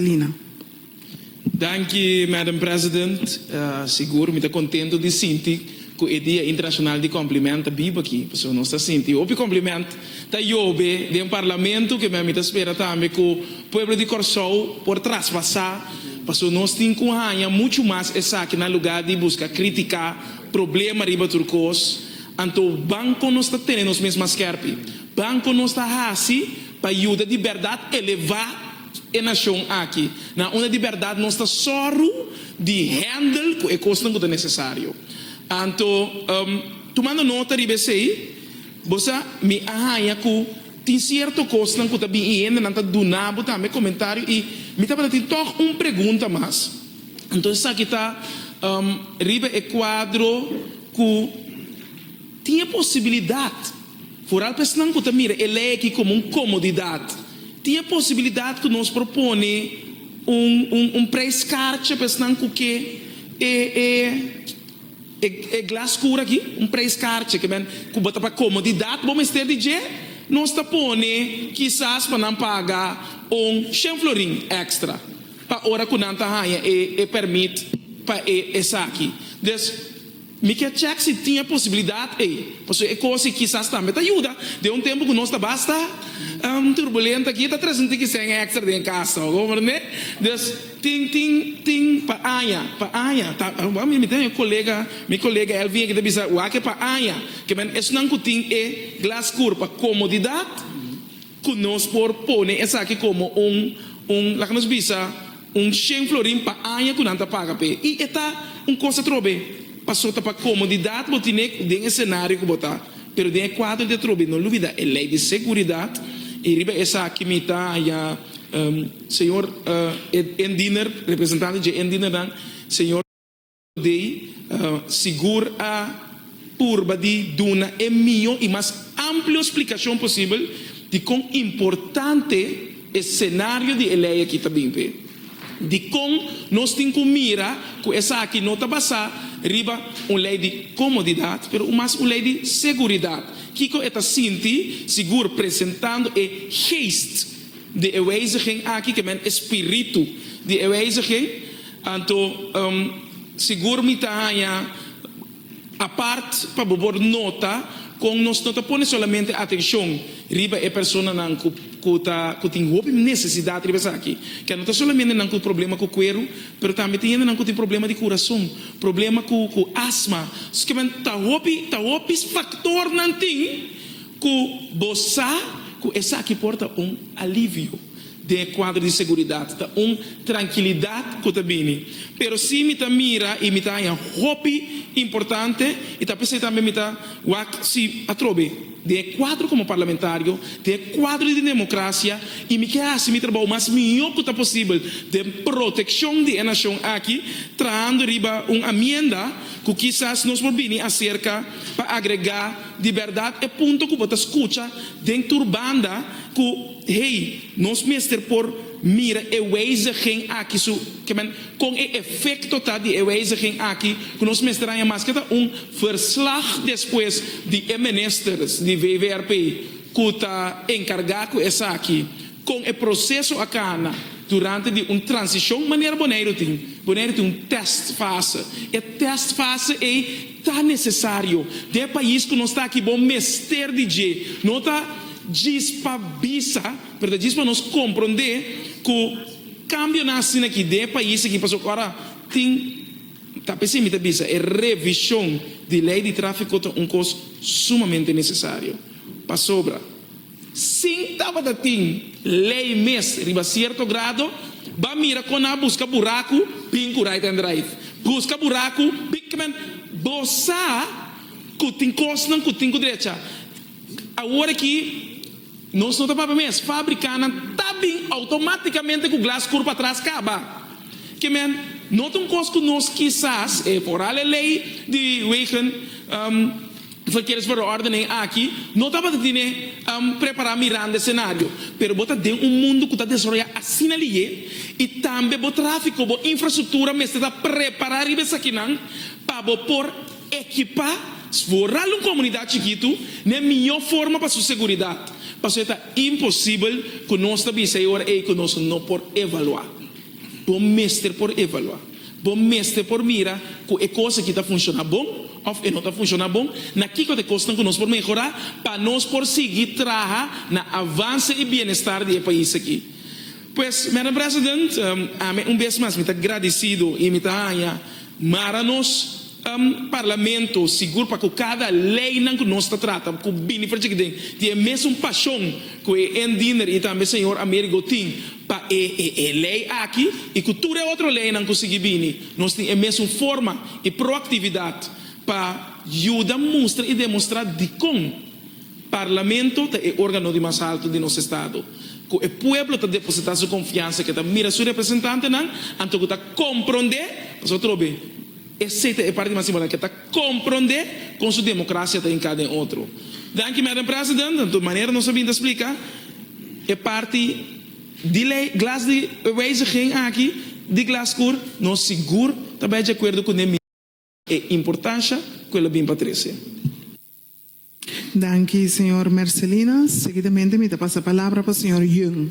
Lina. Danki, Madam President. Sigur, mi ta kontentu di sinti ku e Dia Internashonal di Kòmpliment ta biba aki, pasobra nos ta sinti hopi kòmpliment ta yobe den Parlamento, ke men mi ta spera tambe ku pueblo di Kòrsou por traspasá, pasobra nos tin ku haña muchu mas esaki na lugá di buska kritiká, problema riba tur kos. Anto ban kon nos ta tene nos mes mas skèrpi? Ban kon nos ta hasi pa yuda di bèrdat elevá? e nashon aki. Na unda di bèrdat nos ta sòru di hèndel ku e kosnan ku ta nesesario. Anto, tumando nota riba esei, bo sa mi a haña ku tin sierto kosnan ku ta bin i hendenan ta duna bo tambe komentario. I mi tabata tin tòg un pregunta mas. Anto esaki ta riba e kuadro ku tin e posibilidat. Vooral pa esnan ku ta mira e lei aki komo un komodidat, tin e posibilidat ku nos por pone un un preis kartje pa esnan ku ke e e e glas skuro aki, un preis kartje ke men ku bo ta pa komodidat bo mester di dje, nos ta pone kisas pa nan paga un shen florin èkstra pa ora ku nan ta haña e e pèrmit pa e esaki. Dus. Mi kier chek si tin e posibilidad ey, pasobra e cosi kisas tambe ta yuda. Den un tempo cu nos ta basta turbulent aki, ta trece un tiki cen extra den e cas ta oko, comprende? Dus, tin, tin, tin pa aña, pa aña. Ta, mi, mi tene un colega, mi colega Elvin aki ta bisa, wak e pa aña, ke men esnan cu tin e glas cur pa comodidad, Cu nos por pone esaki como un, un, laga nos bisa, un shen florin pa aña cu nan ta paga p'e. Y e ta un cos atrobe, paso ta pa comodidad bo tine den e scenario cu bo ta. Pero den e cuadro di atrobe, no lubida e ley di seguridad. Y riba esaki mi ta ya, um, señor, uh, e, e, Endiener, representante dje Endienernan, señor. Dei sigur a purba di duna e mihó i mas amplio splikashon posibel di kon importante e senario di e lei akí ta bin p'e. Dikon nos tin ku mira ku esaki no ta basá riba un lei di komodidat, pero un mas un lei di seguridat? Kiko e ta sinti sigur presentando e Geest di e Wijziging akí, ke men e Spiritu di e Wijziging? Anto, sigur mi ta haña apart pa bo por nota kon nos no ta pone solamente atenshon riba e personanan ku tin hopi nesesidat riba esaki. Ke no ta solamente nan ku problema ku kueru, pero tambe tin hendenan ku tin problema di kurason, problema ku asma. Skemen ta hopi, ta hopi faktornan tin ku bo sa ku esaki por ta un alivio. Den e kuadro di seguridat ta un trankilidat ku ta bini. Pero si mi ta mira i mi ta haña hopi importante i ta p'esei tambe mi ta wak si atrobe den e kuadro komo parlamentario, den e kuadro di demokrasia i mi ke hasi mi trabou mas mihó ku ta posibel den protekshon di e nashon aki trahando riba un amienda ku kisas nos por bini aserka pa agregá di bèrdat e punto ku bo ta skucha den tur banda ku Hey, nos mester por mira e wijziging aki su kemen, kon e efecto ta di e wijziging aki ku nos mester haña maske ta un verslag despues di e ministers di VVRP ku ta enkargá ku esaki, kon e proseso a kana durante di un transishon manera Boneiru tin. Boneiru tin un test fase, e test fase ei, Ta necesario. Dje pais cu nos ta aki bo mester di dje. No ta djis pa bisa, pero ta djis pa nos compronde cu cambio nan asina aki dje pais aki pasobra ora tin, ta p'esey mi ta bisa, e revision di ley di trafico ta un cos sumamente necesario. Pasobra. Sin tabata tin lei mes riba cierto grado, ba mira con a busca buracu bin cu right and drive. Busca buracu bin cu men bo sa cu tin cosnan cu tin cu drecha. Awor aki nos no ta papia mes, fabricanan ta bin automaticamente cu glas cur patras caba. Ke men no ta un cos cu nos kisas e foral e lei di wegen. Esnan kieres pa ro orden ei aki no tabata tine prepara mirando e scenario, pero bo ta den un mundo cu ta desaroya asina liye y tambe bo trafico, bo infrastructura mester ta prepara riba esakinan pa bo por ekipa sforal un comunidad chikitu n'e miyo forma pa su seguridad. Pasobra e ta imposibel cu nos ta bisa e ora ei cu nos no por evalua. Bo mester por evaluá. Bo mester por mira ku e kos aki ta funshoná bon òf e no ta funshoná bon. Na kiko ta e kosnan ku nos por mehorá pa nos por sigui traha na avanse i bienestar di e pais aki? Pues, Madam President, ami un bes mas mi ta gradisido i mi ta haña mara nos Parlamento sigur pa ku kada leinan ku nos ta trata ku bini for djigi den di e mesun pashon ku e Ann Diender i tambe señor Amerigo tin Pa e e e lei aki i ku tur e otro leinan ku sigui bini, nos tin e mesun forma i proaktividat pa yuda mustra i demostrá dikon Parlamento ta e órgano di mas haltu di nos estado, ku e pueblo ta depositá su konfiansa, ke ta mira su representantenan anto ku ta komprondé pasobra atrobe. Esey ta e parti mas importante, ta compronde con su democracia ta hinca den otro. Danki Madam President, anto manera nos a bin ta splica, e parti di ley, glas di e wijziging aki di Glasgoer, nos sigur ta bay di acuerdo cun e mismo por e importancia cu el a bin pa trece. Danki, señor Mercelina. Seguidamente mi ta pasa palabra pa señor Yun.